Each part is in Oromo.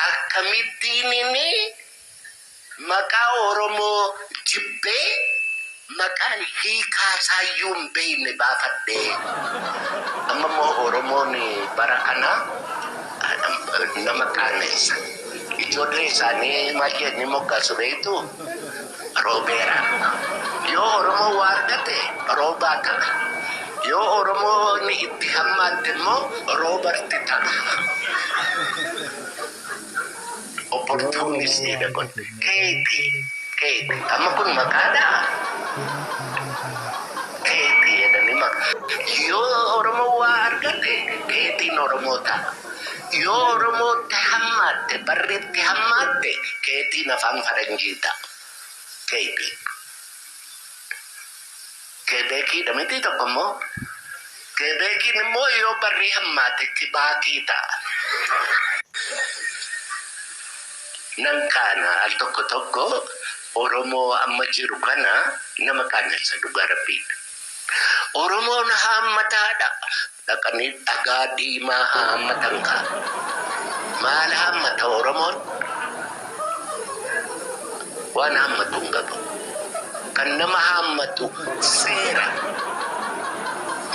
Akkamittiin inni maqaa Oromoo jibbee maqaan hiikaa isaayyuu hin beekne baafadhe? Amma immoo Oromoon bara kana nama qaaneessa. Ijoollee isaanii maal jedhanii moggaasu beektuu? Roobeera. Yoo Oromoo waa argate Roobaa ta'a. Yoo Oromoon itti hammaatte immoo Roobarti ta'a. Opportunist dha kun. Keeti. Keeti. Amma kun maqaa dhaa? Keeti jedhanii maqaa. Yoo Oromoon waa argate Keetiin Oromoo ta'a. Yoo Oromootti hammaatte barri itti hammaatte keetiin afaan faranjii ta'a. KB. Kebeekiidha mitii tokko immoo? Kebeekiin immoo yoo barri hammaate Kibaakii ta'a. Nan qaana al tokko tokko Oromoo amma jiru kana nama qaanessa dhugaa rabbii. Oromoon haammataadha. dhaqanii dhagaa diimaa haa hammatan kaa maal hammata oromoon waan hammatu hin qabu kan nama hammatu seera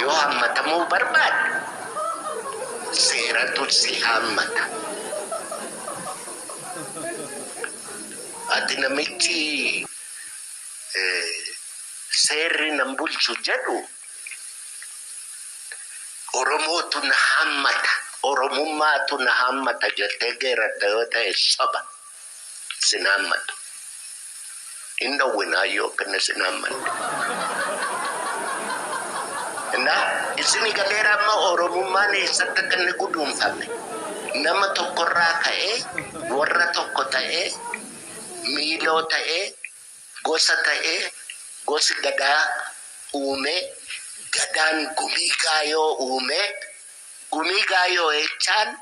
yoo hammatamuu barbaadde seeratu si hammata ati namichi eh, seerri nan bulchu jedhu Oromootu na haammata, Oromummaatu na haammata jettee geerarta yoo ta'e soba. Sin haammatu. Hin dhowwinaa yoo kinnis hin haammanne. Na isini galeera amma Oromummaan eessatti akka inni guduunfame. Nama tokkorraa ka'ee warra tokko ta'ee miiloo ta'ee Gosa ta'ee gosi Gadaa uume, Gadaan Gumii Gaayoo uume, Gumii Gaayoo jechaan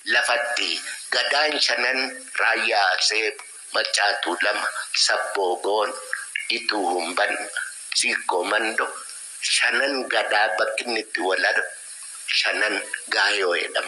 lafatti Gadaan shanan Raayyaa Aseeb, Maccaa Tuulama, Sabboo Goon, Ituu Humban, Siikkoo Mando, shanan Gadaa bakki inni itti wal argu shanan Gaayoo jedhama.